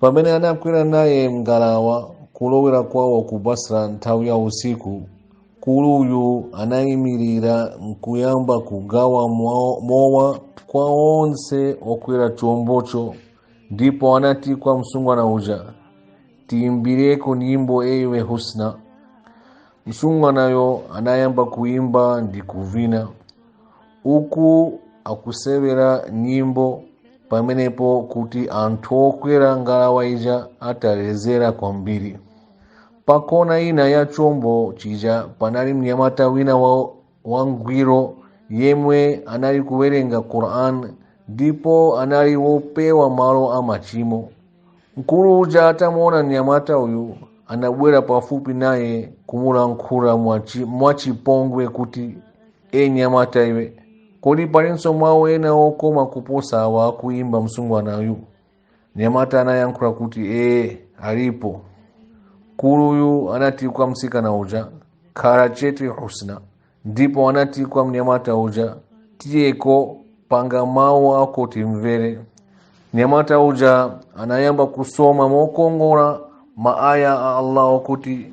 pamene anakwera naye mngalawa kulowera kwawo ku basra nthawi ya usiku mkuluyu anayimirira nkuyamba kugawa mowa kwa onse okwera chombocho ndipo anati kwa msungwana uja tiyimbireko nyimbo ewe husna msungwanayo anayamba kuyimba ndi kuvina uku akusewera nyimbo pamenepo kuti anthu okwera ngalawa ija atalezera kwambiri pakona ina ya chombo chija panali mnyamata wina wangwiro yemwe anali kuwerenga quran ndipo anali wopewa malo a machimo mkulu uja atamuona mnyamata uyu anabwera pafupi naye kumulankhula mwachipongwe kuti e mnyamata iwe kodi palinso mawu ena okoma kuposa awa akuyimba msungwanayu mnyamata anayankhula kuti ee alipo mkuluyu anati kwa msikana uja khala chete husna ndipo anati kwa mnyamata uja tiyeko panga mawu ako timvere mnyamata uja anayamba kusoma mokongola maaya a allah okuti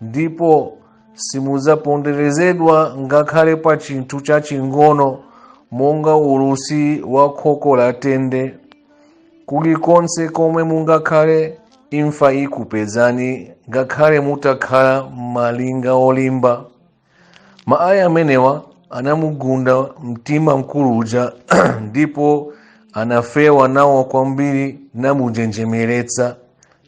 ndipo simudzaponderezedwa ngakhale pa chinthu chaching'ono monga ulusi wa khoko la tende kulikonse komwe mungakhale imfa ikupezani ngakhale mutakhala m'malinga olimba maaya amenewa anamugunda mtima mkulu uja ndipo anafewa nawo kwambiri namunjenjemeretsa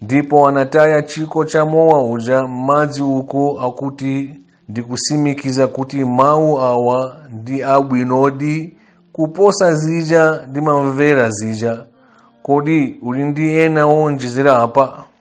ndipo anataya chikho cha mowa uja m'madzi uku akuti ndikutsimikiza kuti mawu awa ndi abwinodi kuposa zija ndimamvera zija kodi uli ndi ena oonjezera apa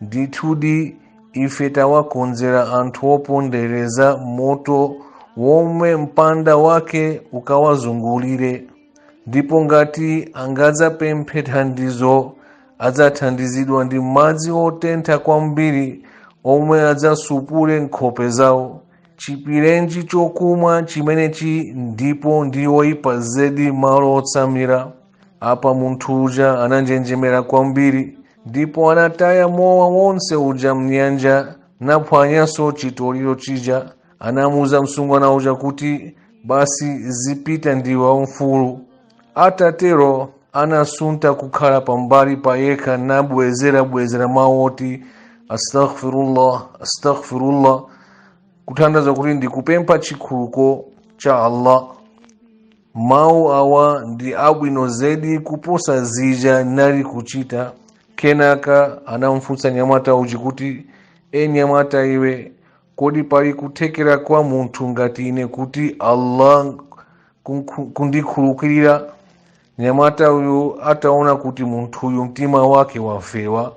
ndithudi ife tawakonzera anthu opondereza moto womwe mpanda wake ukawazungulire ndipo ngati angadzapemphe thandizo adzathandizidwa ndi madzi otentha kwambiri omwe adzasupule nkhope zawo choipirenji chokumwa chimenechi ndipo ndi oyipa zedi malo otsamira apa munthu uja ananjenjemera kwambiri ndipo anataya mowa wonse uja mnyanja naphwanyanso chitoliro chija anamuuza msungwana uja kuti basi zipita ndiwe wamfulu atatero anasuntha kukhala pambali pa yekha nabwezerabwezera mawu oti astaghfirullah astaghfirullah kutanthauza kuti ndikupempha chikhululuko cha allah mawu awa ndi abwino zedi kuposa zija nali kuchita kenaka anamfunsa nyamata uji kuti e nyamata iwe kodi pali kuthekera kwa munthu ngati ine kuti allah kundikhululukira nyamata uyu ataona kuti munthuyu mtima wake wafewa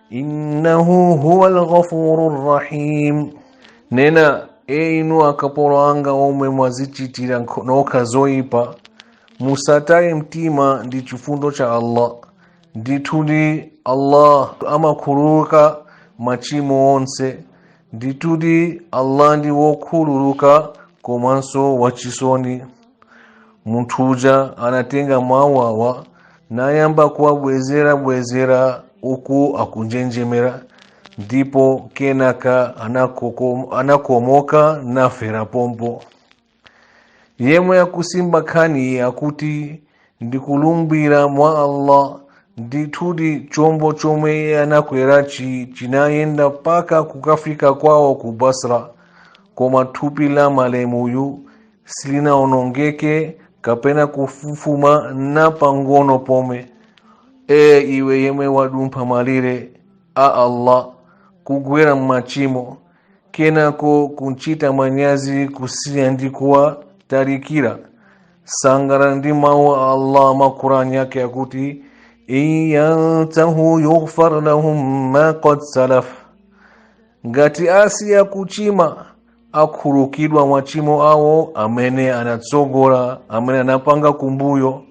innahu huwa lghafuru rrahim nena e inu akapolo anga omwe mwazichitira nokha zoyipa musataye mtima ndi chifundo cha allah ndithudi allah amakhululuka machimo onse ndithudi allah ndi wokhululuka komanso wachisoni munthu uja anatenga mawu awa nayamba kuwabwezerabwezera uku akunjenjemera ndipo kenaka anakomoka nafera pompo yemwe akusimba nkhaniyi akuti ndikulumbira mwa allah ndithudi chombo chomwe anakwerachi chinayenda mpaka kukafika kwawo ku basra koma thupi la malemuyu silinaonongeke kapena kufufuma na pang'ono pomwe e iwe yemwe wadumpha malire a allah kugwera m'machimo kenako kuchita manyazi kusiya ndi kuwatarikira sangalala ndi mawu a allah mu qur'an yake akuti in yantahu yughfar lahum ma qad salaf ngati asiya kuchima akhululukidwa machimo awo amene anatsogola amene anapanga kumbuyo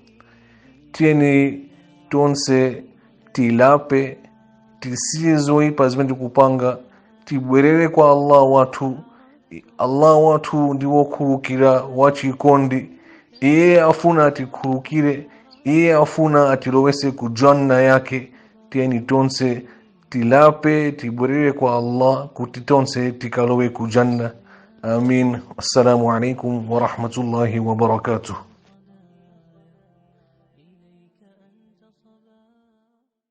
tiyeni tonse tilape tisiye zoipa zimene tikupanga tibwerere kwa allah wathu allah wathu ndi wokhululukira wachikondi iye afuna atikhululukire iye afuna atilowetse ku janna yake tiyeni tonse tilape tibwerere kwa allah kuti tonse tikalowe ku janna amin assalamu alaikum warahmatullahi wabarakatuh